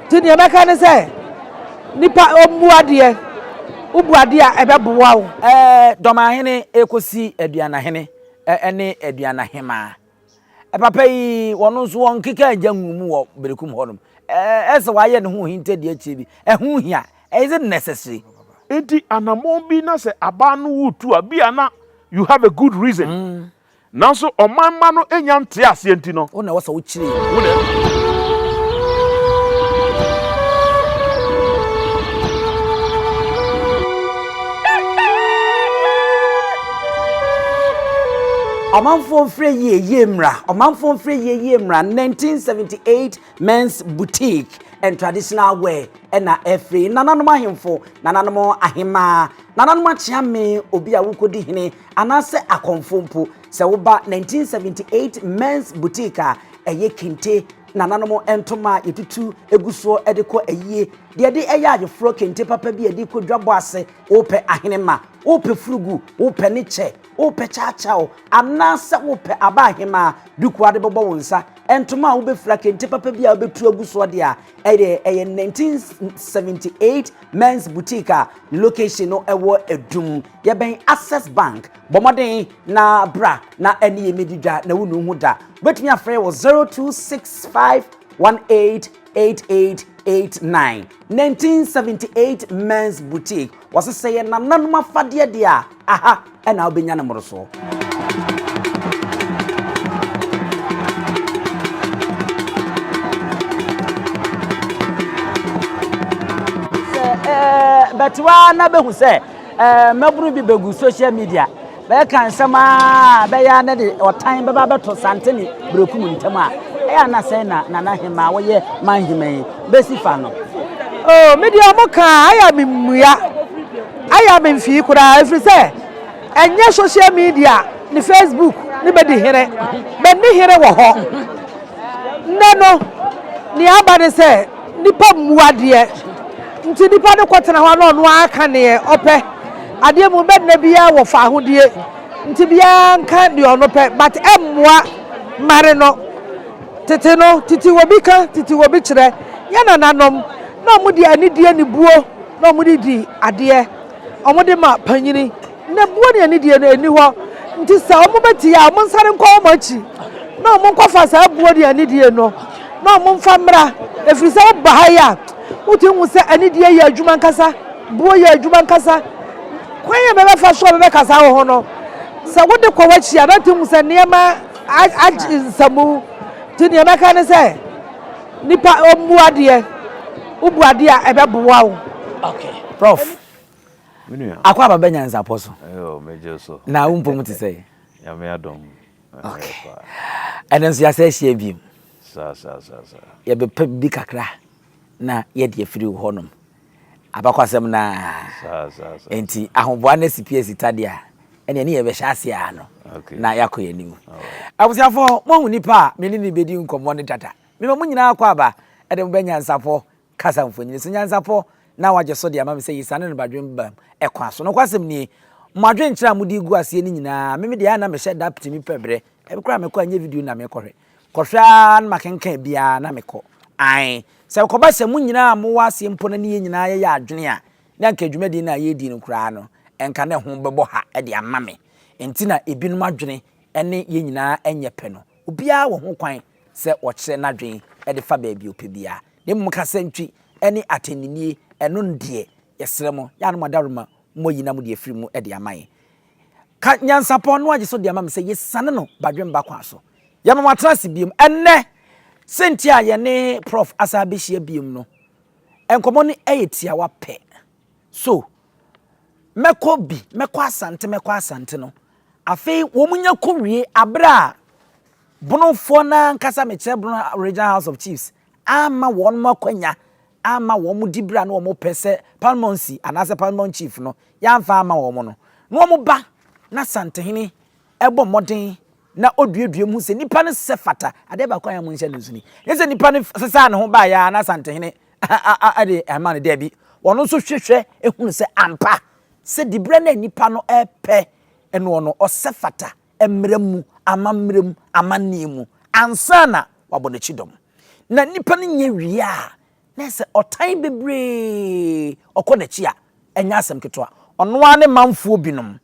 Nti nea mɛka ne sɛ, nnipa mmu adeɛ, wobu adeɛ a ɛbɛboa wo. Dɔmahene rekɔsi aduanahene ne aduanahemaa. Papa yi, ɔno nso ɔnkeka agya ngu mu wɔ berekum hɔnom. Ɛyɛ sɛ wayɛ ne ho ohintadua akyire bi. Ɛho hia. Is it necessary? Nti anammɔn bi na sɛ abaa no retu a, bi a na you have a good reason Nanso ɔman mma no nnya ntee aseɛ nti no. Wo na ɛwɔ sɛ wokyiri wo na adi. Ɔmanfoɔ mfrɛ yie yie mmra Ɔmanfoɔ mfrɛ yie yie mmra 1978 Men's Boutique and Traditional Wear ɛna ɛfiri Nananom ahemfo, Nananom ahemaa, Nananom akyeame obi a wokɔdi hene Anaasɛ akɔmfo mpo, sɛ woba 1978 Men's Boutique a, ɛyɛ kente, nananom ntoma a yɛtutu gu soɔ de kɔ ayie, deɛ ɛde ɛyɛ ayeforɔ kente papa bi a ɛde kɔ dwabɔ ase, wopɛ ahenemma, wopɛ furugu, wopɛ ne kyɛ, wopɛ kyaakyaaw, anaasɛ wopɛ aba ahemaa duku a de bɛbɔ wo nsa, ntoma a wobɛfira kente papa bi a wobɛtu agu soɔ deɛ a, ɛyɛ ɛyɛ 1978 Men's Boutique a ne location no ɛwɔ Adum. Yɛbɛn Access Bank, bɔ mmɔden na bra na ɛne yɛn mmɛdi dwa na wonnu ho da. Wobɛtumi afrɛ wɔ 0265188889, 1978 Men's Boutique. Wɔse sɛ yɛ nananom afadeɛ deɛ a, aha ɛna wobɛnya no mmorosoɔ. Sɛ ɛɛ bɛte hɔ ara na bɛhu sɛ Mmabunu bi begu social media bɛka nsɛm a ɛbɛyɛ a na de ɔtan bɛba abɛto Sante ne Berekum ntam a, ɛyɛ a na sɛn na Nana Hemaa a ɔyɛ man hemma yi besi fa no? Oh, me deɛ wɔn ka a, ayɛ a memmua, ayɛ a memfii koraa ɛfiri sɛ ɛnyɛ social media ne Facebook ne bɛdi hene, bɛnni hene wɔ hɔ. Nnɛ no, nea aba ne sɛ. Nnipa mmu adeɛ, nti nnipa no kɔtena hɔ a na ɔno ara ka deɛ ɔpɛ. Adeɛ mu no bɛdena biara wɔ faahodie, nti biara nka deɛ ɔno pɛ, but ɛmmoa mmare no. Tete no, titiwobi ka, titiwobi kyerɛ. Yɛn nananom, na wɔde anidie ne buo na wɔde di adeɛ, wɔde ma panyini. Na buo ne anidie no nni hɔ, nti sɛ wɔbɛtie a, wɔnsane nkɔ wɔn akyi na wɔnkɔfa saa buo ne anidie no na wɔmfa mmra, ɛfiri sɛ woba ha yi a, wotumi hu sɛ anidie yɛ adwuma ankasa, buo yɛ adwuma ankasa. Kwan a ɛbɛbɛfa so a wɔbɛbɛkasa wo ho no, sɛ wode kɔ w'akyi a, na wotumi hu sɛ nneɛma agye nsamu, nti deɛ mɛka ne sɛ nipa ɔmmu adeɛ, wobu adeɛ a ɛbɛboa wo. Okay, Prof. Me nua. Akɔ aba bɛ nyansapɔ so. Ɛyɛ o, me gye so. Na wo mpom te sɛ. Nyame adom. Ok. Ɛnɛ nso yɛasɛ ahyia biem. Sa sa sa sa. Yɛbɛpɛ bi kakra na yɛde afiri wo hɔnom. Abakɔsɛm na. Sa sa sa. Enti ahoboa ne sipi asita deɛ a, ɛnna ɛne yɛbɛhyɛ ase ara no. Ok. Na yɛakɔ yɛn anim. Abusuafoɔ, moahu nipa a me ne ne bɛdi nkɔmmɔ no dada. Mema mo nyinaa akɔ aba de mo bɛ nyansapɔ Kasa mfonini so nyansapɔ na wɔagye so de ama me sɛ Yisane no badwen bam ɛkwan so. Nokwasɛm nie, mo adwenkyerɛ a mode gu aseɛ no nyinaa, me medeɛ a na mehyɛ da tumi pɛ berɛ bi koraa a mekɔ a ɛnyɛ video no na merekɔhwɛ. Kɔhwɛ ara na makenkan biara na mekɔ. Aane, sɛ ɛkɔba sɛ mo nyinaa a mowɔ aseɛ mpo no ne yɛn nyinaa yɛyɛ adwene a, na anka dwumadie no a yɛredi no koraa no, anka na ɛho bɛbɔ ha de ama me. Enti na ebinom adwene ne yɛn nyinaa nyɛ pɛ no, obiara wɔ ho kwan sɛ ɔkyerɛ n'adwene de fa baabi a ɔpɛ biara. na mmom kasantwi ne atɛnninie, ɛno deɛ yɛsrɛ mo, yɛ a na mo adaworoma mo ayi na mo de afiri mu de ama yɛn. Ka nyansapɔn no agye so de ama me sɛ yɛsiane no badwemba kwan so. Yɛma mo atena ase biom. Ɛnnɛ, sɛnti a yɛne Prɔf asan abɛhyia biom no, nkɔmmɔ no yɛ tiawa pɛ. So, mɛkɔ bi, mɛkɔ Asante, mɛkɔ Asante no, afei wɔn nya kɔwie abere a Bonofoɔ no ankasa, mekyerɛ Bono Regional House of Chiefs, amma wɔn akwanya amma wɔn dibere a na wɔpɛ sɛ paramountcy anaasɛ paramount chief no yɛamfa amma wɔn no, na wɔba na Asantehene bɔ mmɔden na oduadua mu sɛ nipa no sɛ fata adeɛ baako a yɛn mo nhyɛ no nso ni. Nyɛ sɛ nipa no sesaa ne ho baeɛ a na Asantehene de ama no daabi. Ɔno nso hwehwɛ ehunu sɛ ampa sɛ diberɛ no a nipa no repɛ ɛnoɔ no ɔsɛ fata mmara mu, amammerɛ mu, amanneɛ mu, ansa na wabɔ n'akyi dɔm. Na nnipa no nyɛ wie a, na ɛyɛ sɛ ɔtan bebree, ɔkɔ n'akyi a, ɛnyɛ asɛm ketewa. Ɔno ara ne manfoɔ binom,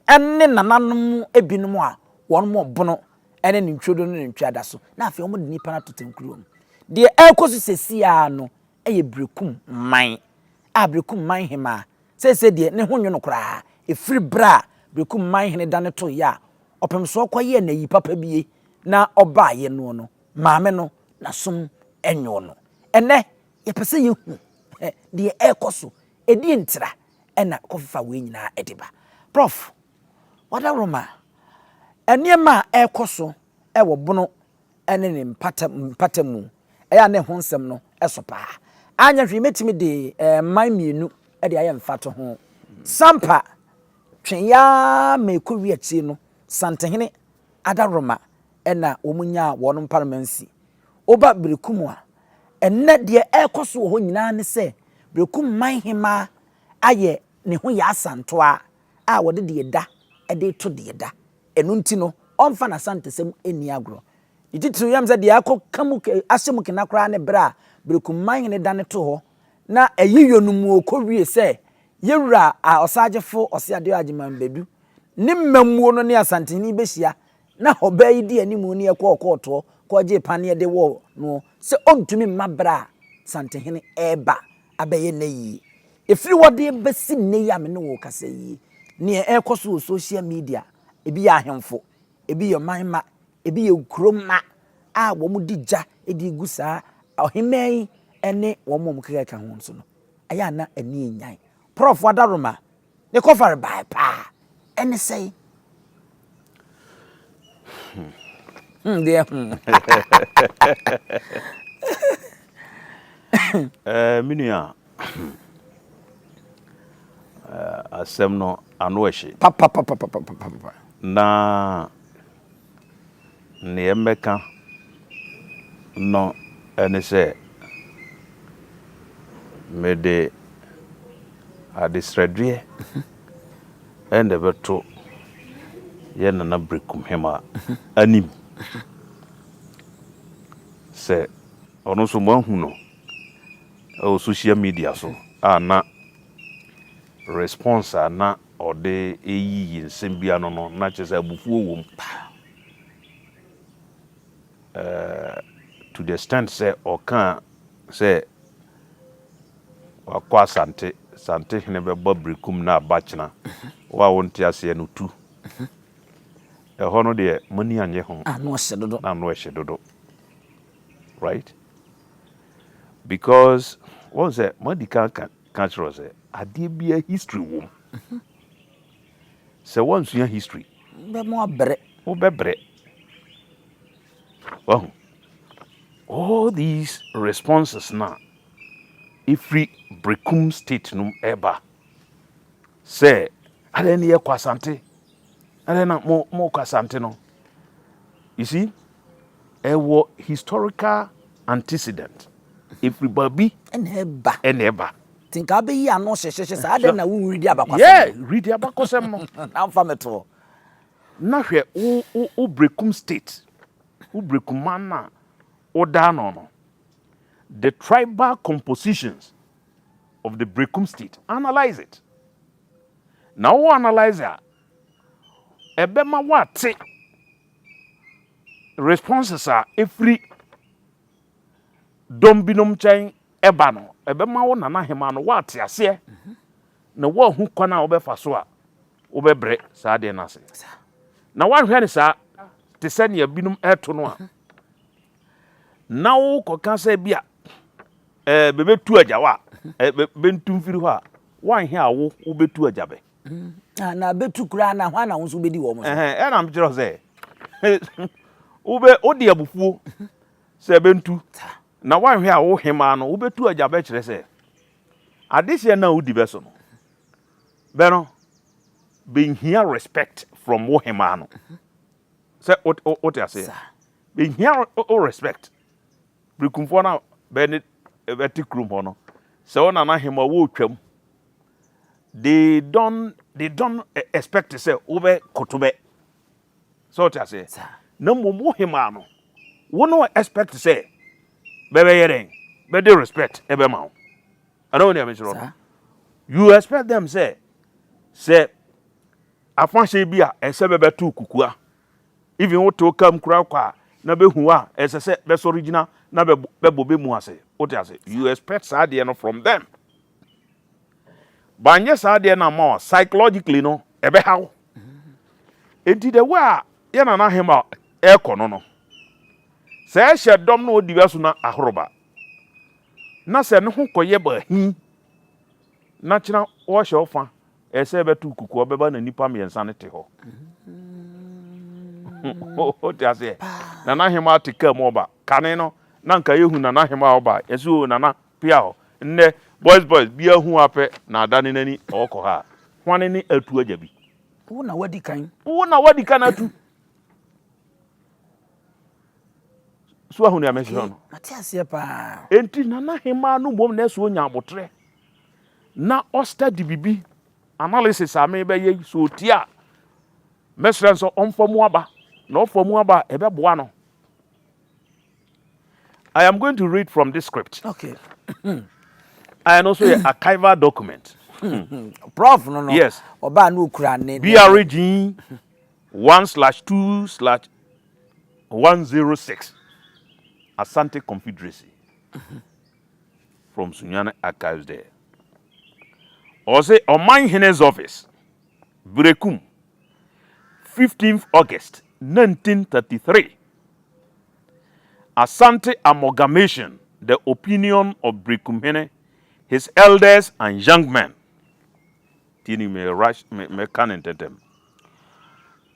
ne nananom binom a wɔn ɔbono ne ne ntwirodo ne ne ntweadaso, na afei wɔde nnipa no atoto nkuruwa mu. Deɛ ɛrekɔ so seesei ara no, yɛ Berekum man a Berekum man hemaa seesei deɛ ne ho nnwo no koraa ɛfiri berɛ a Berekum man hene dane toeɛ a ɔpemsoɔ kɔyɛɛ n'ayi papa bie na ɔbaeɛ noɔ no maame no n'asom nnwoo no. Ɛnnɛ yɛpɛ sɛ yɛhu deɛ ɛrekɔ so, ɛdeɛn nti na ɛna kɔfefa wei nyinaa de ba? Prɔf. Wadaworoma, nneɛma a ɛrekɔ so wɔ Bono ne ne mpata mpata mu. Ɛyɛ a na ɛho nsɛm no so paa. Anyɛ hwee mɛtumi de mman mmienu de ayɛ mfatoho. Sampa, twe yɛ ara ma ɛkɔwie akyire no, Santehene adaworoma na wɔnyaa wɔn mparamansi. Woba Berekum a, ɛnnɛ deɛ ɛrekɔ so wɔ hɔ nyinaa ne sɛ, Berekum man hemmaa ayɛ ne ho yɛ asantoaa a wɔde deɛ ɛda de reto deɛ ɛda. Ɛno nti no, ɔmfa n'Asantasɛm nni agorɔ. Ne titiriw yam sɛ deɛ akɔ ka mu ke, ahyɛ mu kena koraa ne berɛ a Berekumman ne dane to hɔ na ɛye yɔ no mu ɔkɔ wie sɛ Yɛwura a Ɔsaagyefo Ɔseadeɔ Agyeman bɛdu ne mmamuo no ne Asantehene bɛhyia na ɔbaa yi dii animu ne ɛkɔɔ kɔɔtoɔ kɔɔgyee paneɛ de wɔɔ noɔ sɛ ɔntumi mma berɛ a Santehene reba abɛyɛ nnɛ yi. Ɛfiri hɔ de bɛsi nnɛ yi a me ne wo rekasa yi, deɛ ɛrekɔ so wɔ social media, ɛbi yɛ ahemfo, ɛbi yɛ ɔman mma, ɛbi yɛ nkuro mma a wɔde gya de regu saa ɔhemmaa yi ne wɔn a wɔkeka ka ho nso no, ɛyɛ a na ani nnyae. Prɔfo Adaroma, Ne kɔfare bae paa. Ɛne sɛn? Hmm, deɛ hmm. Eh, me nua eh, asɛm no ano ɛhye papapapapapapa na Nea mɛka no ne sɛ mede adesrɛdeɛ na ɛbɛto yɛn Nana Brekumhema anim sɛ ɔno nso moahu no wɔ social media so a na response a na Ɔde eyi yi nsɛm bi ano no, na kyerɛ sɛ abufuo wɔ mu paa. Eh, to the extent sɛ ɔkaa sɛ wakɔ Asante, Santehene bɛbɔ Berekum na aba kyena. Wo a wonte aseɛ no, tu. Ɛhɔ no deɛ, mo ani annye ho. Ano ahye dodo. Na ano ahye dodo. Right? Because, woahu sɛ, moadi kan aka Ka kyerɛ sɛ adeɛ biara history wɔ mu sɛ wansua history. Bɛmo abrɛ. Wobɛbrɛ. Wahu. All these responses no a ɛfiri Brekum state no ɛba sɛ adɛn ne yɛkɔ Asante Ɛnɛ na mo mo kɔ Asante no. You see, ɛwɔ historical antecedent. Efiri baabi. Ɛna ɛba. Ɛna ɛba. Ti nka abɛyi ano hyehyehye saa adɛn na wonwiri di abakɔsɛm. Yeah, wiri di abakɔsɛm no. Na nfa me toɔ. Na hwɛ wo wo wo Brekum state, wo Brekum man na wo da ano no. The tribal compositions of the Brekum state, analyze it. Na wo analyse a, ɛbɛma woate responses a ɛfiri dɔm binom nkyɛn ɛba no. Ɛbɛma wo Nana Hemaa no woate aseɛ na woahu kwan a wobɛfa so a wobɛbrɛ saa adeɛ no ase. Na woahwɛ no saa te sɛ nea binom ɛto no a, na wokɔka sɛ bi a E be be tu agya wa e be be ntu mfiri hɔ a, wa nhɛ a wo wo be tu agya bɛ. A na be tu koraa na hwan na wo nso bedi wɔn so. Ɛhɛn, ɛna me kyerɛ wo sɛ, wo be wo de abufuo sɛ bɛ ntu, na wa nhwɛ a wo hemaa no wo be tu agya bɛ kyerɛ sɛ, adehyeɛ no a wo di bɛ so no, bɛ no, bɛ nhia respect from wo hemaa no. Sɛ wo wo te aseɛ? Bɛ nhia wo respect. Berekumfoɔ no a bɛ ne bɛte kurom hɔ no, sɛ wo nana he ma wɔɔtwam, they don't, they don't e, expect sɛ wobɛkoto bɛ. Sɛ wote aseɛ? Saa. Na mmom wo hemaa no, wo ne wɔ expect sɛ bɛbɛyɛ dɛn? Bɛde respect ɛbɛma wo. Ɛna wo nea mekyerɛ no. Saa. You expect them sɛ, sɛ afa he bi a, ɛsɛ bɛbɛto kukua Even wo te wo car mu koraa kɔ a na bɛ hu wo a, ɛsɛ sɛ bɛ sɔre gyina na bɛ bɛ bɔ bɛ mu ase. Wo te ase? You expect saa adeɛ no from them. Ba nyɛ saa adeɛ no amma wo a, psychologically no, ɛbɛ ha wo. Enti the way a yɛ Nana Ahema ɛɛkɔ no no, sɛ ɛhyɛ dɔm na ɔdi bɛ so na ahoro ba, na sɛ ne ho kɔ yɛ bɛ ahi, na kyena ɔɔhyɛ wo fa Ɛyɛ sɛ ɛbɛto kuku a ɔbɛba na nnipa mmiɛnsa no te hɔ. Wote aseɛ? Nana Hemaa te kaa mu ɔba. Kane no, na nka yɛhu Nana Hemaa ɔba a, yɛse oo Nana, pia hɔ. Nnɛ, boys boys biara hu wo ara pɛ na adane n'ani ɔɔkɔ ha a, hwane ne Atu Agyabi? Wo na wadi kan. Wo na wadi kan atu. So ahu nea mɛhwehwɛ no? Mate aseɛ paa. Enti Nana Hemaa no mmom na ɛsɛ ɔnya aboterɛ. na ɔ study bibi analysis a me bɛ yɛ yi sɛ otie a mɛ srɛ nsɛ ɔnfa mu aba na ɔfa mu aba a ɛbɛ boa no I am going to read from this script okay I know so yɛ archival document hmm. prof no no yes ɔbaa no okura ne BRG one slash two slash one zero six Asante Confederacy. Mm-hmm. From Sunyani Archives dɛ, Ɔse Ɔman Hene Zɔfis, Berekum, fifteenth August nineteen thirty three, Asante Amalgamation the opinion of Berekum Hene, his elders and young men, tie ni me rush me me ka no ntɛntɛm,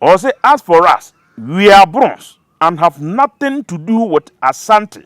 Ɔse as for us we are bronze and have nothing to do with Asante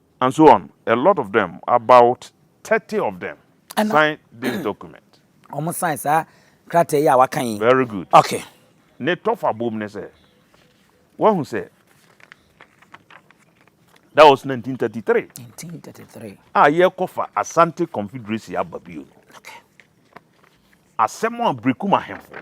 And so on, a lot of them, about thirty of them Ɛna signed this document. wɔn sign saa krataa yi a waka yi. Very good. Okay. Ne tɔfa bom ne sɛ, wahu sɛ, that was nineteen thirty three Nineteen thirty three. a yɛrekɔfa Asante Confederacy aba bio no, Okay. asɛm a Brekum ahemfo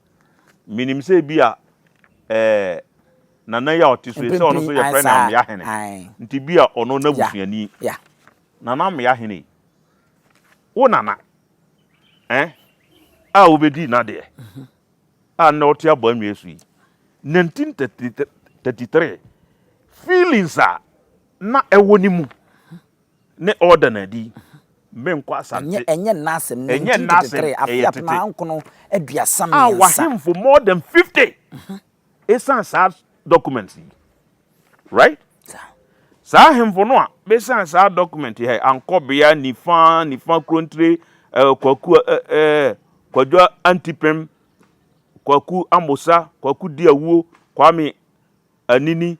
Menim sɛ ebia ɛɛ Nana yi a ɔte so yi, sɛ ɔno nso yɛfrɛ no Ameahene, nti ebia ɔno n'abusuani. Nana Ameahene yi, wo nana ɛ a wobɛdii n'adeɛ a nnɛ wote abɔ anwea so yi, 1933 feelings a na ɛwɔ ne mu Ne ɔda no adi, menkɔ asante. Ɛnyɛ ɛnyɛ nna asɛm, nineteen thirty three, afe apem ahankron aduasa mmiɛnsa. A w'ahemfo more than fifty, esan saa documents yi, right? Saa ahemfo no a b'esan saa document yi hɛ, Ankɔbea, Nifa, Nifa Kurontire, eh, Kwaku, eh, eh, eh Kwadwo Antipem, Kwaku Amosa, Kwaku Diawuo, Kwame Anini,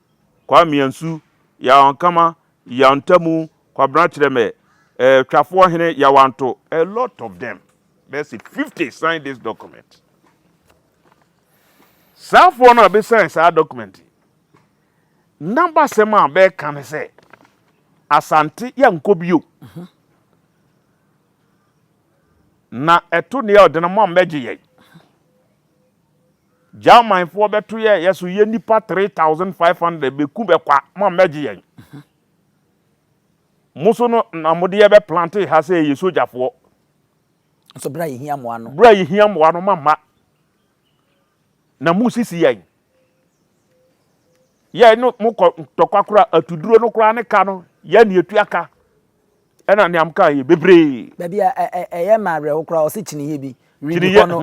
Kwame Ansu, Yaw Ankama, Yaw Ntamu, Kwabena Kyerɛmɛ, eh, Twafoɔ Hene, Yaw Anto, a lot of them, bɛyɛ se 50 sign this document. Saa foɔ no a bɛ sign saa document yi, n'abasɛm a bɛka ne sɛ, Asante yɛnkɔ bio. Na ɛto nea ɔde no ma mmɛgye yɛn. German foɔ bɛto yɛ yɛ so yɛ nipa 3500 bɛku bɛkwa mo a mɛgye yɛn mo so no na mo deɛ bɛ plante ha sɛ yɛ soja foɔ nso bra yɛ hia moa no bra yɛ hia moa no ma ma na mo sisi yɛn yɛ no mo kɔ tɔkwa kora atuduro no koraa ne ka no yɛ ne atua ka Ɛna nea mka yɛ bebree. Baabi a ɛyɛ me awerɛho koraa ɔse kyiniyɛ bi redi hɔ no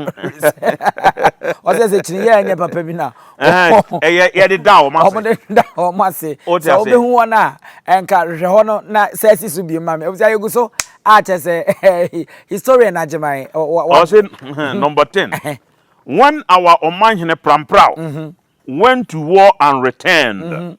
ɔse sɛ kyiniyɛ a ɛnyɛ papa bi na yɛde da wɔn ase wɔde da wɔn ase sɛ wobɛhu wɔn a ɛnka hwehwɛ hɔ no na sɛ asi so biem ma me ɛfisɛ yɛgu so a kyɛ sɛ historian agyeman ɔse number 10 when our ɔmanhene prampraw went to war and returned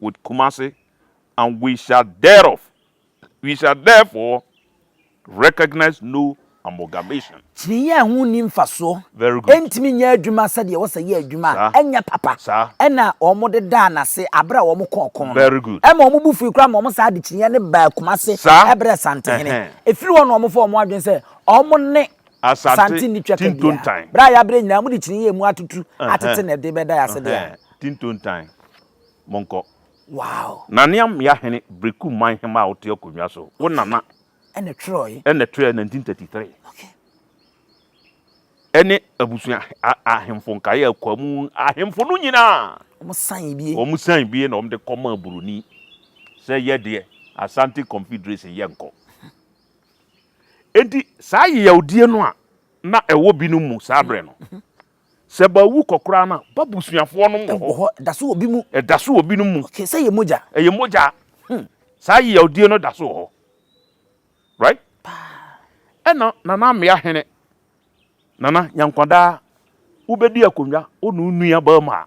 with Kumasi and we shall thereof we shall therefore recognise no amalgamation. Kyinii a ɛho nni mfasoɔ, Very good. ɛntumi nyɛ adwuma sɛdeɛ ɛwɔ sɛ yɛ adwuma a, Saa. ɛnyɛ papa. Saa. Ɛna wɔde daa no ase berɛ a wɔkɔɔ ɔko no. Very good. Ɛma wɔn bo fui koraa ma wɔn saa de kyiniiɛ no baa Kumasi Saa. brɛɛ Santehene. Ɛhɛn. Ɛfiri hɔ na wɔfaa wɔn adwene sɛ wɔn ne Asante Sante nni twaka biara. Tintontan. Berɛ a yɛabrɛ nyinaa, mode kyiniiɛ a ɛmu atutu atete na ɛde bɛda yɛn ase deɛ a. Ɛhɛn. Tintontan. monkɔ. Wow! Nanea mmea hene Berekum Manhema a ɔte akonnwa so, wo nana, na ɛtwerɛe, na ɛtwerɛe 1933. Okay. Ɛne abusua a, ahemfo nkaeɛ a ɛkɔ mu, ahemfo no nyinaa. Wɔn san bie. Wɔn san bie na wɔn de kɔ maa Buroni sɛ yɛ deɛ Asante Confederation yɛ nkɔ. Enti saa yeyawdie no a na ɛwɔ binom mu saa berɛ no, Sɛ bɛawu kɔ koraa no a, b'abusuafoɔ nom wɔ hɔ. Wɔ hɔ. Ɛda so wɔ bi mu. Ɛda so wɔ binom mu. Okay, sɛ yɛ mogya. Ɛyɛ mogya. Hmm. Saa yawdie no da so wɔ hɔ. Right? Paa. Ɛna Nana Amea Hene, Nana Nyankwadaa, wobɛdi akonnwa wo ne wo nua barima a,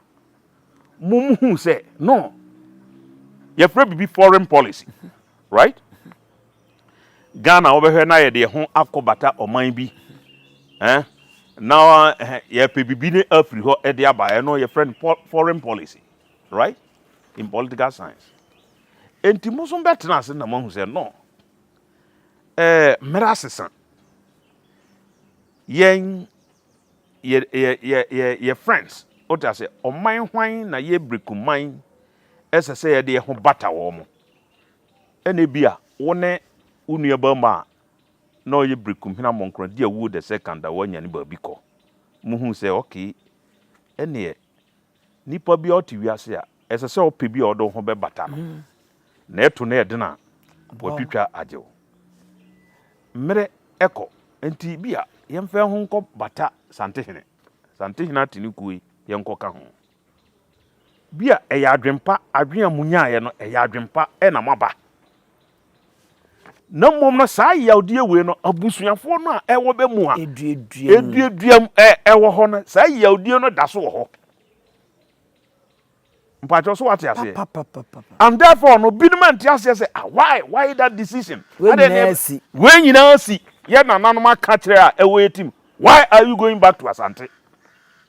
mo mo hu sɛ, no, yɛfrɛ biribi foreign policy. Right? Ghana wobɛhwɛ na yɛde yɛn ho akɔ bata ɔman bi eh, na eh, yɛpɛ biribi ne afiri hɔ de aba ɛno yɛfrɛ no foreign policy right in political science enti mo nso bɛtena ase na moahu sɛ no eh, mmara asesa yɛn yɛ yɛ yɛ yɛ yɛ friends wote ase ɔman hwan na yɛbiriku man ɛsɛ sɛ yɛde yɛn ho bata wɔn mo Ɛnna ebia wo ne wo nuabarima a na ɔyɛ berekumhena mmɔnkorɔ di awuo the second a woanya no baabi kɔ. Mohuu sɛ, Okay, ɛnneɛ nipa biara a ɔte wiase a, ɛsɛ sɛ ɔpɛ bi a ɔde wo ho bɛbata no, na ɛto no yɛ den a, watwitwa agye wo. Mmerɛ kɔ, enti ebia yɛmfa yɛn ho nkɔbata Santehene. Santehene Atenikuo yi, yɛnkɔka ho. Bi a ɛyɛ adwen pa, adwen a monyaeɛ no ɛyɛ adwen pa na moaba. Na mmom no saa yawdeɛ wei no abusuafoɔ no a ɛwɔ bɛ mu a ɛduaduam ɛwɔ hɔ no saa yawdeɛ no da so wɔ hɔ. Mpakyɛw so wate aseɛ. And therefore no binom a nte aseɛ sɛ ah why why that decision. Wei nyinaa si. Wei nyinaa si yɛ nananom aka kyerɛ a ɛwɔ yɛ tim. Why are you going back to Asante?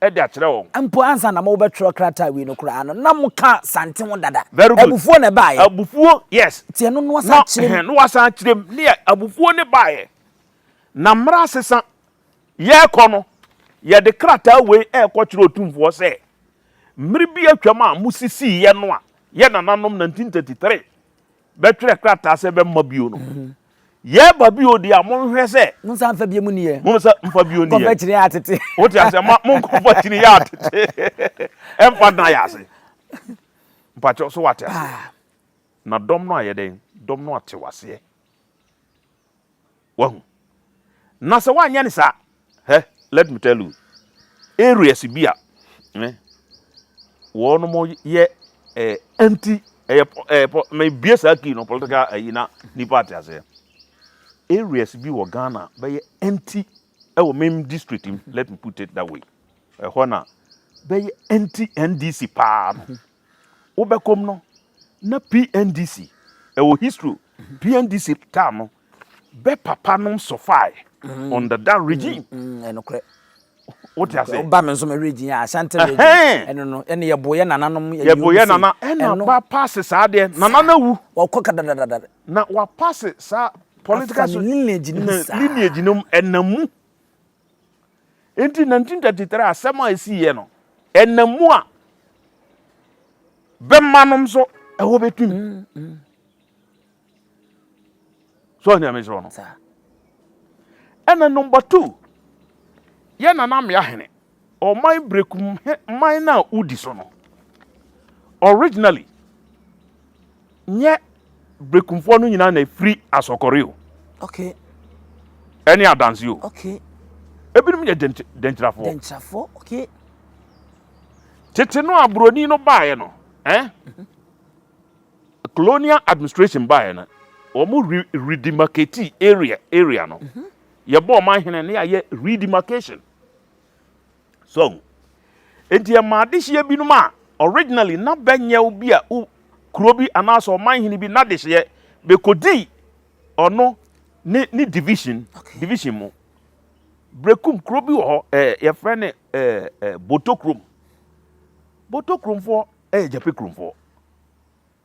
de akyerɛ wɔn. Mpo ansa na morebɛtwerɛ krataa awie no koraa no, na moka Santen ho dada. Very good. Abufuo na ɛbaeɛ. Abufuo, yes. Nti ɛno na wɔasan akyerɛ mu. Na, ɛhɛn, na wɔasan akyerɛ mu. Ne yɛ, abufuo no baeɛ. Na mmerɛ asesa, yɛrekɔ no, yɛde krataa wei rekɔkyerɛ Otumfoɔ sɛ, Mmerɛ bi atwam a mosisiiɛ no a yɛn nananom, 1933, bɛtwerɛ krataa sɛ bɛmma bio no mhm. yɛba bio deɛ a monhwɛ sɛ monsa mfa bio mu niyɛ monsa mfa bio niyɛ kɔfa kyini yɛ atete wote aseɛ ma monkɔfa kyini yɛ atete ɛmfa dena yɛ ase mpakyɛ so wate aseɛ ah. na dɔm no ayɛ dɛn dɔm no ate waseɛ Wahu? Na sɛ woanyɛ no saa, hɛ, let me tell you, areas bi a, hɛ, wɔnom yɛ eh, anti, ɛyɛ, eh, po, mebie saa kii no, political ayi na nipa ate aseɛ. Areas bi wɔ Ghana bɛyɛ anti ɛwɔ mem district mu, let me put it that way. Ɛhɔ na bɛyɛ anti NDC paa no. Wobɛkɔm no na PNDC ɛwɔ history o. PNDC taa no bɛ papa nom sɔfae under that regime. Ɛnokorɛ. Wote ase? Woba me nso me region yɛ Ashanti region. Ɛno no ɛne yɛbo yɛ nananom yɛ Yɛbo yɛ nana ɛna ba paase saa deɛ nana na wu. Wɔkɔ kadadadada. Na wa paase saa political. Afa ne lineage nom saa. Lineage nom ɛna mu. Enti 1933 asɛm a esiiɛ no, ɛnam mu a bɛma nom so ɛhɔ bɛtum. Mm, mm. So ɔhene ame sɛ ɔno. Ɛna number two, yɛ nana mmea hene, ɔman brekum man no a wodi so no, originally Nyɛ Brekumfoɔ no nyinaa na ɛfiri Asɔkɔre o. Okay. Ɛne Adanse o. Okay. Ebinom yɛ Denkyirafoɔ. Denkyirafoɔ, okay. Tete no a Buroni no baeɛ no, eh? Mhm. Colonial administration baeɛ no, wɔn re redemarcate area area no. Mhm. Yɛbɔ ɔman hene ne yɛayɛ redemarcation. So enti ɛma adehyeɛ binom a originally na bɛnyɛ wo bi a wo kuro bi anaasɛ ɔman hene bi n'adehyeɛ bɛkɔdi ɔno ne ne division division mu brekum kuro bi wɔ hɔ ɛɛ yɛfrɛ ne ɛɛ ɛɛ boto kurom boto kuromfoɔ ɛyɛ gyape kuromfoɔ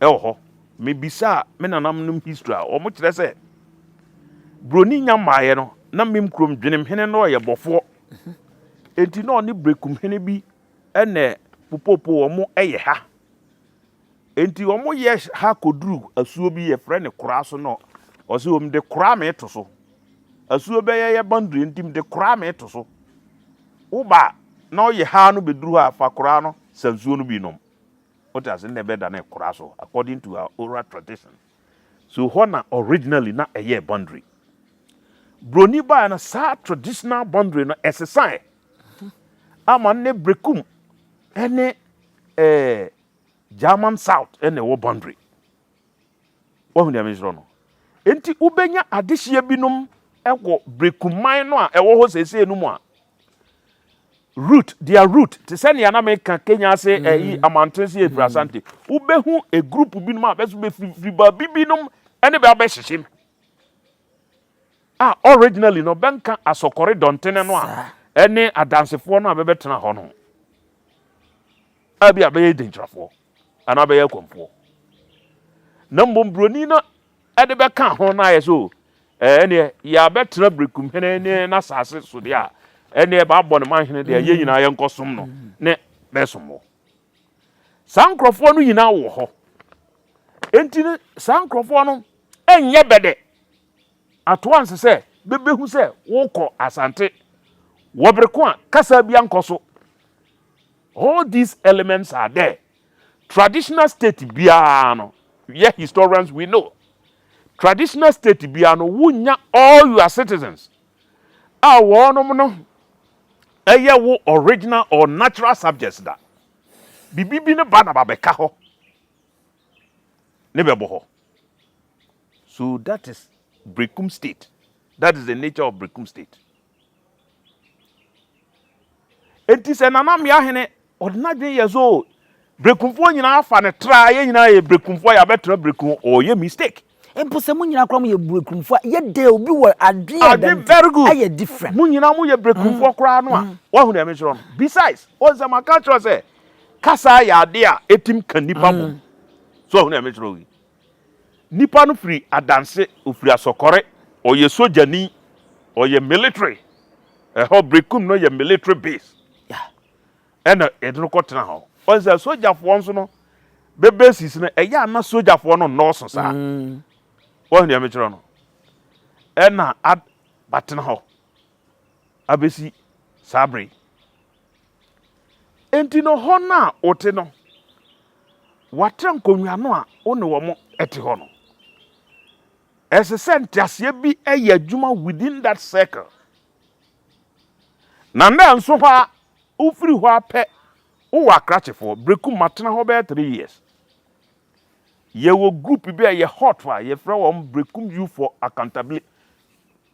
wɔ hɔ. Me bisaa me nananom nom history a wɔn kyerɛ sɛ broni nya mmaeɛ no na mem kurom dwenem hene no ɔyɛ bɔfoɔ enti na ɔne brekum hene bi ɛnɛ popopo wɔn ɛyɛ ha enti wɔn yɛ ha koduru asuo bi yɛfrɛ ne koraa so no ɔsɛ wɔn de koraa me to so asuo bɛyɛ yɛ bandiri enti me de koraa me to so woba na ɔyɛ ha no bɛduru hɔ a fa koraa no sansuo no bi nom Wote ase? Nnɛ bɛda no ɛkora so according to our oral tradition. So hɔ na originally na ɛyɛɛ boundary. Broni baeɛ no saa traditional boundary no ɛsesaeɛ ama nnɛ Brekum ne ɛɛ German South na ɛwɔ boundary. Woahu nea mesrɛ no? Enti wobɛnya adehyeɛ binom wɔ berekuman no a ɛwɔ hɔ seesei no mu a root, their root, te sɛ nea na meka Kenya ase ɛyi eh, mm-hmm. amanten se efiri Asante. Mm-hmm. Wobɛhu a group binom a bɛso bɛfiri baabi binom ɛne bɛ abɛhyehyem. A originally no bɛnka asɔkɔre dɔntene no a ɛne adansefoɔ no a bɛbɛtena hɔ no. A bi a bɛyɛ denkyirafoɔ. anaa bɛyɛ akɔmfoɔ. Na mmom buroni no de bɛka ho na ayɛ sɛ o ɛneɛ yɛabɛtena berekum hene ne n'asase so deɛ a ɛneɛ baabɔ ne man hene deɛ yɛn nyinaa yɛnkɔsom no ne bɛsom wɔ. Saa nkurɔfoɔ no nyinaa wɔ hɔ. Enti no saa nkurɔfoɔ no ɛnyɛ bɛdɛ atoa nse sɛ bɛbɛhu sɛ wokɔ Asante wɔ bereko a kasa bi ankɔ so. All these elements are there. Traditional state biara no, yɛ historians we know, traditional state biara no wonya all your citizens a wɔnom no ɛyɛ wo original or natural subjects da. Bibi bi no ba na babɛka hɔ ne bɛbɔ hɔ. So that is Berekum state. That is the nature of Berekum state. Enti sɛ Nana Mmea hene, ɔde n'adwene yɛ so o. Brekumfoɔ nyinaa afa no tra, yɛn nyinaa yɛ brekumfoɔ a yɛabɛtra brekum o, ɔyɛ mistake. Mpo sɛ mo nyinaa koraa moyɛ brekumfoɔ a, yɛ dɛ obi wɔ adwene a ɛda no nti, ayɛ different. Mo nyinaa moyɛ brekumfoɔ koraa no a, woahu deɛ mekyerɛ no? Besides, woahu sɛ maka akyerɛ wo sɛ, kasa yɛ adeɛ a ɛtim ka nnipa bom. So woahu deɛ mekyerɛ wo yi? Nipa no firi adanse, ɔfiri asɔkɔre, ɔyɛ sogyani, ɔyɛ military, ɛhɔ Brekum no yɛ military base ɛna yɛde no kɔ tena hɔ. Wɔn sɛ sogyafoɔ nso no bɛ bases no ɛyɛ a na sogyafoɔ no nnɔɔso saa. Mm. Wɔn deɛ mekyerɛ no ɛna ad batena hɔ abɛsi saa bere. Enti no, hɔ no a wote no, w'atra nkonnwa no a wo ne wɔn te hɔ no, ɛsɛ sɛ nteaseɛ bi yɛ adwuma within that circle. Na nnɛ nso hɔ a wofiri hɔ a pɛ wowɔ akrakyefoɔ. Brekum matena hɔ bɛyɛ three years. Yɛwɔ group bi a yɛ hot a yɛfrɛ wɔn Brekum Youth for Accountability.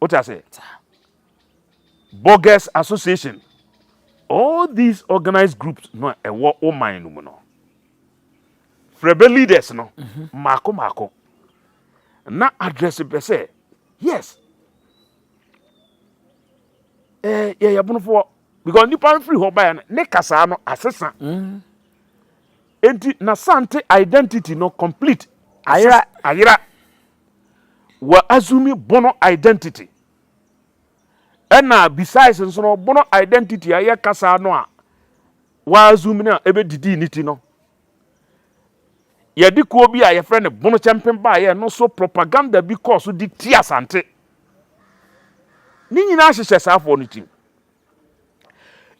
Wote ase? Bogus association. All these organized groups no a ɛwɔ wo man no mu no. Frɛbɛ leaders no mmaako mmaako na address bɛ sɛ yes eh, yɛyɛ bonofoɔ because nipa no firi hɔ baeɛ no ne kasaa no asesa mm. enti na sante identity no complete ayera ayera wɔ assume bono identity. Ɛna besides nso no bono identity a ɛyɛ kasa no a wa assume no a ɛbɛdidi ne ti no yɛde kuo bi a yɛfrɛ no bono kyɛmpen baayɛ no so propaganda bi kɔɔ so de ti asante ne nyinaa hyehyɛ saafoɔ no tim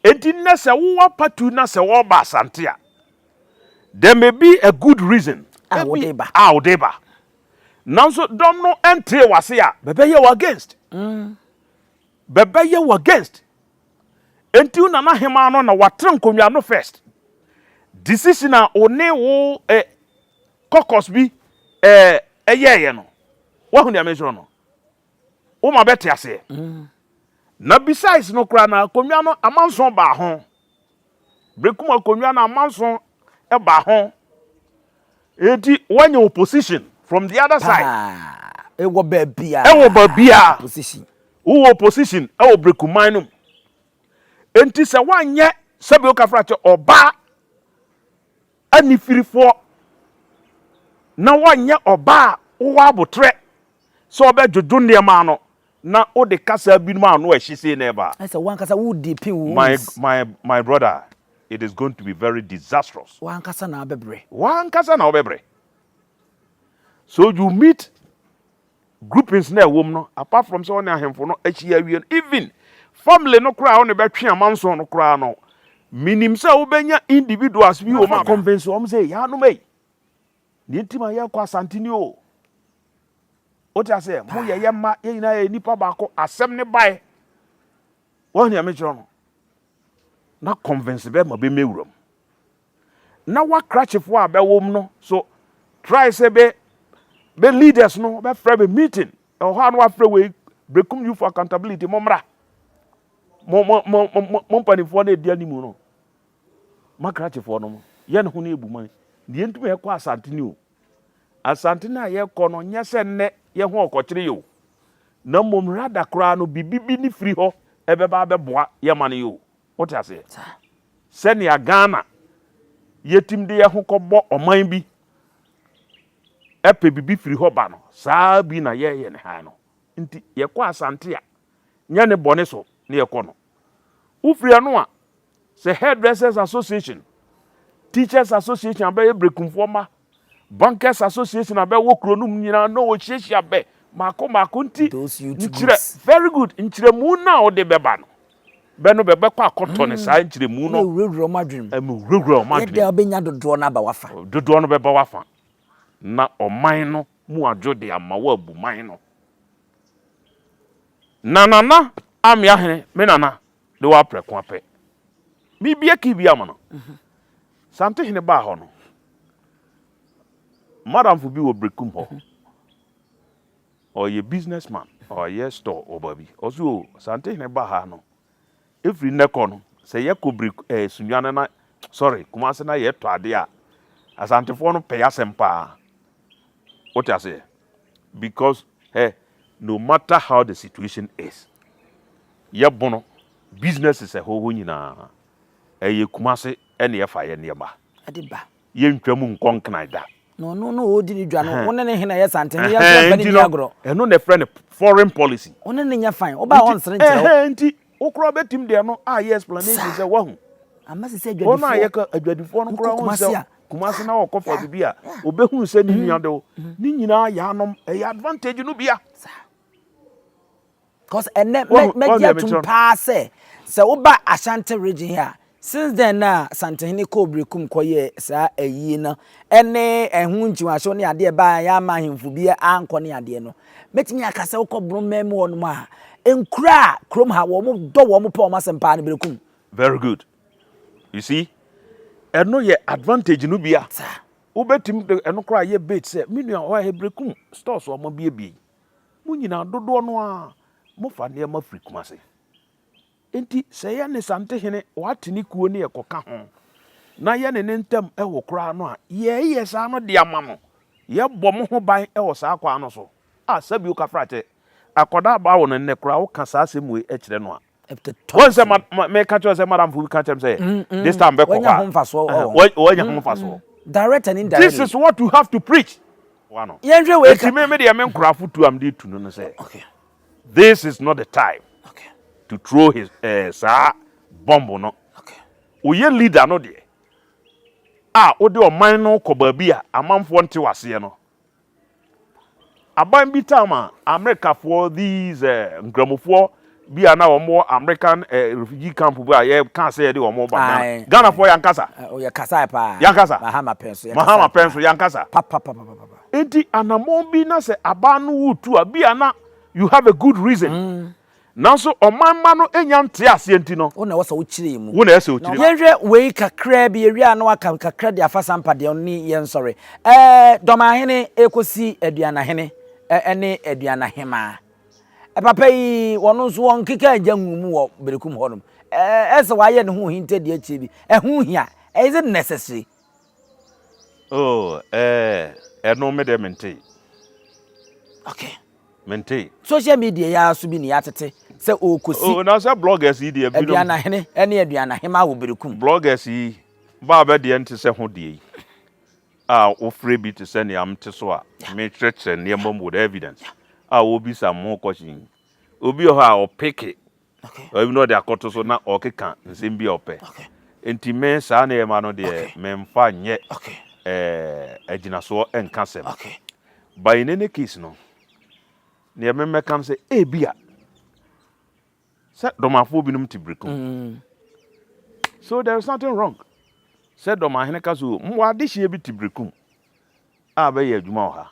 enti nnɛ sɛ wowɔ patu na sɛ wɔba asante a There may be a good reason a wode ba. A wode ba. Nanso dɔm no ntee w'ase a, bɛbɛyɛ wo against. Mm. Bɛbɛyɛ wo against. Enti na n'ahemaa no na watra nkonnwa no first. Decision a wo ne wo eh, caucus bi eh, ɛyɛɛyɛ no. Wahu deɛ mesoro no? Woma bɛte aseɛ. Mm. Na besides no koraa na akonnwa no amanso baa ho. Brekum akonnwa na amanso ba ho. Enti woanya opposition from the other side. Haa, ɛwɔ baabiara. Ɛwɔ baabiara. Opposition. Wowɔ opposition ɛwɔ Brekuman no mu. Enti sɛ woanyɛ sɛbi okafrakyɛ ɔbaa. Anifirifoɔ, na wɔnyɛ ɔbaa a wowɔ aboterɛ sɛ wobɛdwodwo nneɛma ano na wode kasa binom a ano ahye sei na ɛba. Ayɛ sɛ wo ankasa wodi pin wo My, wins. my, my brother, it is going to be very disastrous. Wo ankasa na wobɛbrɛ. Wo ankasa na wobɛbrɛ. So you meet groupings na ɛwɔ mu no apart from sɛ ɔne ahemfo no ahyia awie no even family no koraa a ɔne bɛtwe amanson no koraa no menim sɛ wobɛnya individuals bi wɔ mu a convince wɔn sɛ yɛanom ei deɛ nti ma yɛkɔ asante ni o wote aseɛ mo yɛ yɛ mma yɛn nyinaa yɛ nipa baako asɛm ne bae wɔn nea mekyerɛ no na convince bɛma bɛmɛwura mu na w'akrakyefo a bɛwom no so try sɛ bɛ bɛ leaders no bɛfrɛ bɛ meeting ɛwɔ hɔ a na wafrɛ wei brekum you for accountability mo mmra mo mo mo mo mo mpanimfoɔ na ɛdi anim no makrakyefoɔ no mo yɛ ne ho ne ebu man deɛ ntumi ɛkɔ asante ni o asante no a yɛkɔ no nyɛ sɛ nnɛ yɛ ho ɔkɔkyere yɛ o na mmom rada koraa no bibi bi ne firi hɔ ɛbɛba abɛboa yɛ ma no yɛ o Wote aseɛ? Sɛnea Ghana yɛtim de yɛn ho kɔbɔ ɔman bi pɛ bibi firi hɔ ba no, saa ara bi na yɛyɛ ne ha no. Nti yɛkɔ Asante a, nyɛ ne bɔne so na yɛkɔ no. Wofiri ɛno a, sɛ Hairdressers Association, Teachers Association abɛyɛ Brekumfoɔ mma Bankers Association a bɛwɔ kuro no mu nyinaa na wɔhyiahyia bɛ mako mako nti nkyerɛ very good nkyerɛmu no a wode bɛba no bɛ no bɛbɛkɔ akɔtɔ ne saa nkyerɛmu no ɛwurawura wɔn adwenem ɛwurawura wɔn adwenem yɛda wobɛnya dodoɔ no aba wafa dodoɔ no bɛba wafa na ɔman no mu adwo de ama wo abu man no na nana amea hene me nana de wɔ aprɛko apɛ. Mebue key bi ama no. Santehene baa hɔ no, madamfo bi wɔ Berekum hɔ. Ɔyɛ businessman, ɔyɛ store wɔ baabi. Ɔse o, Santehene baa ha no, ɛfiri nnɛ kɔ no, sɛ yɛkɔ Bereku, eh, Sunyane na, sorry, Kumase na yɛtɔ adeɛ a, Asantefoɔ no pɛ yɛ asɛm paa. Wote aseɛ? Because hɛ, no matter how the situation is, yɛ bono, businesses ɛhɔ hɔ nyinaa, ɛyɛ Kumasi ɛna yɛfa yɛ nneɛma. Ɛde ba. Yɛntwa mu nkɔ Nkran da. Na ɔno na ɔredi ne dwa no, wo ne ne he na ɛyɛ sante no, yɛmfa yɛmfa ne nni agorɔ. Ɛno na ɛfrɛ no foreign policy. Wo ne ne nyɛ fine, wobaa ɔnsere nkyerɛ wo. Nti, Wo koraa bɛtim de ɛno ayɛ explanation sɛ wahu. Ama sɛ sɛ adwadifoɔ. Wɔn a yɛka adwadifoɔ no koraa hu sɛ kumase na wɔkɔ fa bibi a wɔbɛhunu sɛ ne mm-hmm. nua de wo. Mm-hmm. Ne nyinaa yɛanom ɛyɛ advantage no bia. Cause ɛnɛ mɛgye atom paa sɛ sɛ woba Ashanti region a Since then na Santehene kɔɔ Berekum kɔyɛɛ saa ayie no ne ɛho nkyiwaso ne adeɛ baa yɛ ama ahemfo bi ankɔ ne adeɛ no. Mɛtumi aka sɛ wokɔ Borɔmɛ mu hɔ nom a, nkura a kurom ha wɔn dɔ wɔn pɛ wɔn asɛm paa no Berekum. Very good. You see, ɛno yɛ advantage no bi a wobɛtumi de ɛno koraa yɛ bait sɛ me nua hɔ yɛ Berekum stores a wɔabiebie yi, mo nyinaa dodoɔ no ara mofa nneɛma firi Kumase. Enti sɛ yɛ ne Santehene Watene kuo no yɛ kɔka ho, na yɛ ne ne ntam ho koraa no a, yɛɛyɛ saa no de ama no. Yɛ bɔ mo ho ban wɔ saa kwan no so. A sɛbi wo ka fra kyɛ akɔdaa baa wo no nnɛ koraa wo ka saa asɛm wei kyerɛ no a, wo nsɛ ma, me ka kyerɛ sɛ madam fo bi ka kyerɛ me sɛ this time bɛ kɔ hɔ a, wo anya ho mfasoɔ. Direct and indirectly. This is what you have to preach. Yɛnhwɛ wei ka. Enti me, me deɛ me nkorafo tu a me de tu no ne sɛ, This is not the time to throw his eh, saa bomb no. Woyɛ leader no deɛ a wode ɔman no kɔ baabi a amanfoɔ nte waseɛ no. Aban bi taa ma Amerikafoɔ these eh, nkramofoɔ bi a na wɔn wɔ American eh, refugee camp bi a yɛka sɛ yɛde wɔn ba Ghana. Aye. Ghanafoɔ yankasa. Oyɛ kasae paa. Yankasa. Mahama pɛn so. Mahama pɛn so yankasa. Papapapapapa. Enti anammɔn bi na sɛ abaa no wo tu a, bi a na you have a good reason. Mm. Nanso ɔman mma no nya nte aseɛ nti no. Wo na ɛwɔ sɛ wokyerɛ mu. Wo na ɛsɛ sɛ wokyerɛ mu. Yɛnhwɛ wei kakraa bi, yɛwie a na waka kakra de afa sampa deɛ ɔno ne yɛnsɔre. Ɛɛ dɔmahene ɛkɔsi aduanahene ɛne aduanahemaa. Papa yi wɔno nso wɔn nkeka agya ngu mu wɔ berekum hɔnom. Ɛɛ ɛsɛ wɔayɛ ne ho ohintadie akyire bi. Ɛho hia. Is it necessary? Oh ɛɛɛ ɛno me deɛ mentee. Okay. Mentee. Social media yi ara so bi na yɛatete sɛ ɔrekɔsi. Oh na sɛ bloggers yi deɛ binom. Aduanahene ɛne aduanahemaa wɔ berekum. Bloggers yi baa bɛ deɛ nte sɛ ho deɛ yi a wofrɛ bi te sɛ nea mete so a mekyerɛkyerɛ nneɛma mu with evidence a wɔbisa mo question yi. Obi wɔ hɔ a ɔpeke Baabi na ɔde akɔto so na ɔrekeka nsɛm bi a ɔpɛ. Enti me saa nneɛma no deɛ memfa nyɛ agyinasoɔ nka asɛm. But in any case no, deɛ memmɛka no sɛ ebia sɛ dɔmafoɔ binom te biriku. So there is nothing wrong sɛ dɔmahene ka so mmoa adehyeɛ bi te biriku a bɛyɛ adwuma wɔ ha.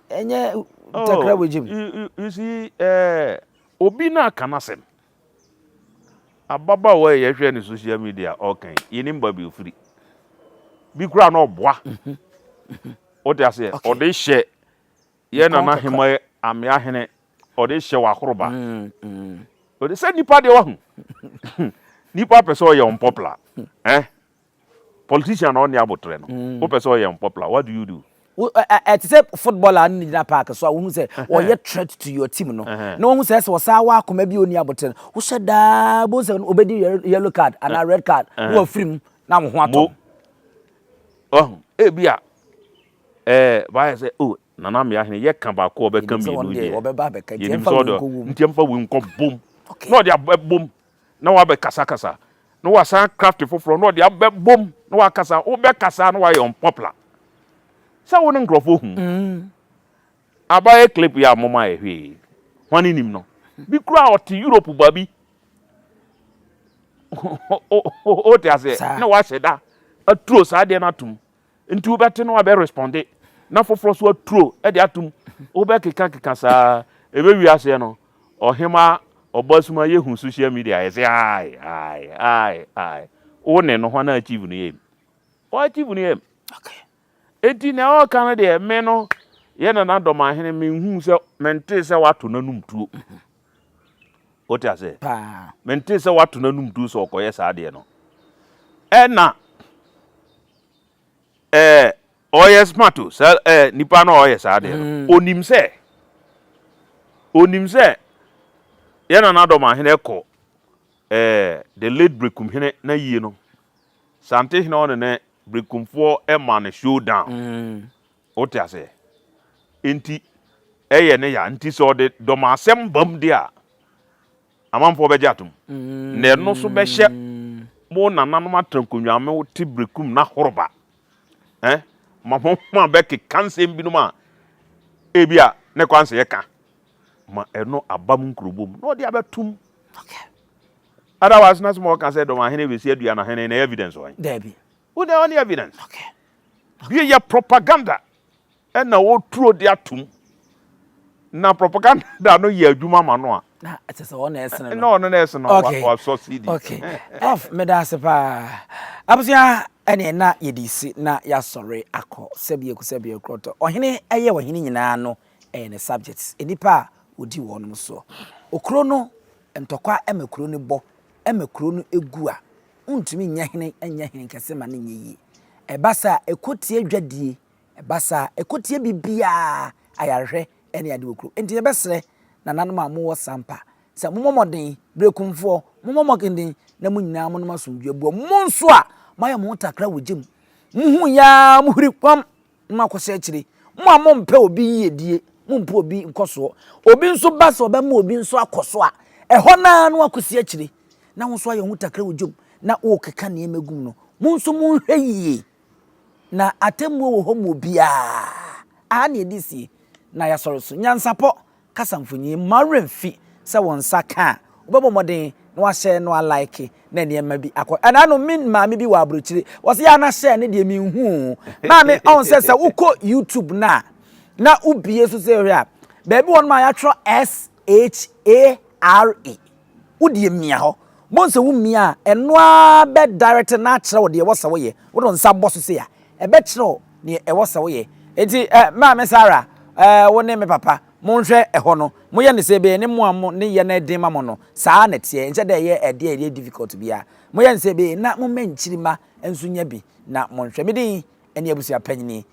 Ɛnyɛ ntakra wɔ egya mu. Oh, you see, ɛɛ eh, obi na aka n'asɛm. Ababaawa yi yɛhwɛ ne social media ɔka yi, yɛnim baabi ofiri. Bi koraa na ɔboa. Mhm. Mhm. Wote aseɛ? Okay. Ɔde hyɛ yɛ Nkɔn nana kakra. hema yɛ amea hene, ɔde hyɛ w'akoroba. Mm, mm. Ɔde sɛ nipa deɛ wahu. Nipa pɛ sɛ ɔyɛ unpopular. Eh? Politician na ɔnni aboterɛ no, wopɛ sɛ ɔyɛ unpopular, what do you do? Wo ɛ ɛ ɛte sɛ footballer no na gyina park so a wohu sɛ ɔyɛ threat to your team no, na wohu sɛ ɛsɛ ɔsan wɔ akoma bi a ɔnni aboterɛ no, wohyɛ da ara bohu sɛ ɔbɛdi yellow card anaa red card na wafiri mu na wo ho atɔ no. Wahu? Ebia ɛɛ wayɛ sɛ oh Nana Mmeahene yɛka baako a ɔbɛka mmienu deɛ, yɛnim sɛ ɔde nti ɛmfa wei nkɔbom na ɔde abɛbom na wabɛkasakasa, na wasan craft foforɔ na ɔde abɛbom na wakasa, wobɛkasa na wayɛ unpopular. Sɛ wo ne nkurɔfoɔ hu. Abayɛ clip yi a moma yɛ hwee yi, hwane nim no? Bi koraa a ɔte Europe ba bi, wote aseɛ, na wahyɛ da aturo saa adeɛ no atom. Nti wobɛte na wabɛ responde na foforɔ so aturo de atom wobɛ keka keka saa ɛbɛ wie aseɛ no ɔhema ɔbɔ asuma yɛ hu social media yɛ se ae ae ae ae wo ne no hwan achieve no yɛm ɔ achieve no yɛm enti na ɛwɔ ka no deɛ me no yɛ nana dɔmahene menhuu sɛ mentee sɛ wato n'anum tuo Wote aseɛ? Paa. Mentee sɛ woato no anum duru sɛ ɔkɔyɛ saa adeɛ no. Ɛna ɛɛ ɔyɛ smart o, saa ɛɛ nipa no a ɔyɛ saa adeɛ no. Mm. Onim sɛ onim sɛ yɛ nana dɔm ahene kɔ ɛɛ the late Brekum hene na yie no. Sante hene ɔne ne Brekumfoɔ ɛma no showdown. Mm. Wote aseɛ? Enti ɛyɛ ne ya. Nti sɛ ɔde dɔmasɛm bam deɛ a, amanfoɔ bɛgye atom. Na ɛno nso bɛhyɛ mo nananom atrankonnwa, mo te berekum na horoba. Ɛh, ma mo ma bɛkeka nsɛm binom a ebia ne kwan sɛ yɛka. Ma ɛno aba mo nkurobom na ɔde abɛtom. Otherwise na sɛ mɔka sɛ dɔmahene bɛsi aduanahene no, ɛyɛ evidence ɔɛn? Daabi. Wo na ɔne evidence. Okay. Bi yɛ propaganda ɛna wɔturo de atum na propaganda no yɛ adwuma ma no a. na ɛsɛ sɛ ɔna ɛsene no. na ɔno na ɛsene no okay. wasɔ cd. okay prof meda ase paa abusua ɛne na yɛde si na yɛasɔre akɔ sɛbi eku sɛbi ekurɔtɔ ɔhene ɛyɛ ɔhene nyinaa no ɛyɛ ne subjects nnipa a wɔdi wɔnom soɔ okuro no ntɔkwa ɛma kuro no bɔ ɛma kuro no egu a wontumi nyɛ hene nyɛ hene kɛse ma no nyɛ yie. Ɛba saa a, ɛkɔtie adwadie, ɛba saa a, ɛkɔtie biribiara, ayarehwɛ ne adeɛ wɔ kurom. Enti yɛbɛsrɛ nananom a mowɔ Sampa sɛ mommɔ mmɔden, Berekumfoɔ, mommɔ mmɔden na mo nyinaa monom asomdwoeɛ boɔ. Mo nso a moayɛ mo ho takra wɔ gya mu, mohuu yɛ ara mohuri kɔm Mo akɔsɛ akyire. Mo a mompɛ obi yiedie, mompɛ obi nkɔsoɔ. Obi nso ba sɛ ɔbɛma obi nso akɔ so a, ɛhɔ no ara na wakɔsi akyire. Na wo nso ayɛ wo ho takra wɔ dwam na worekeka nneɛma gu mu no, mo nso monhwɛ yie. Na atemmuo wɔ hɔ ma obiara. Aha na yɛde sie, na yɛasɔre so. Nyansapɔ, Kasa mfonyin mma wo werɛ mmfi sɛ wo nsa ka a, wobɛbɔ mmɔden na woahyɛ na woalike na nneɛma bi akɔ. Ɛnaanom, me maame bi wɔ aburokyire, wɔse yɛ a na hyɛ no deɛ menhu o. Maame, ɔhu sɛ sɛ wokɔ YouTube no a, na wobie so sɛ hwɛ a, baabi wɔ hɔnom a yɛatwerɛ S-H-A-R-E. Wo deɛ mia hɔ. Bohu sɛ wo mia a, ɛno ara bɛ direct na akyerɛ wo deɛ ɛwɔ sɛ wo yɛ. Wo de wo nsa bɔ so sei a, ɛbɛ kyerɛ wo deɛ ɛwɔ sɛ wo yɛ. Enti eh, Maame Sarah, eh, wo ne me papa, mo nhwɛ ɛhɔ no, mo yɛ no sɛ ɛbɛyɛ ne mo a mo ne yɛ no ɛden ma mo no, saa ara na ɛteɛ, nkyɛ dɛ ɛyɛ ɛdeɛ a ɛyɛ difficult biara. Mo yɛ no sɛ ɛbɛyɛ na mo mma nkyirima nso nya bi, na mo nhwɛ. Me din ɛne Abusua Panyini.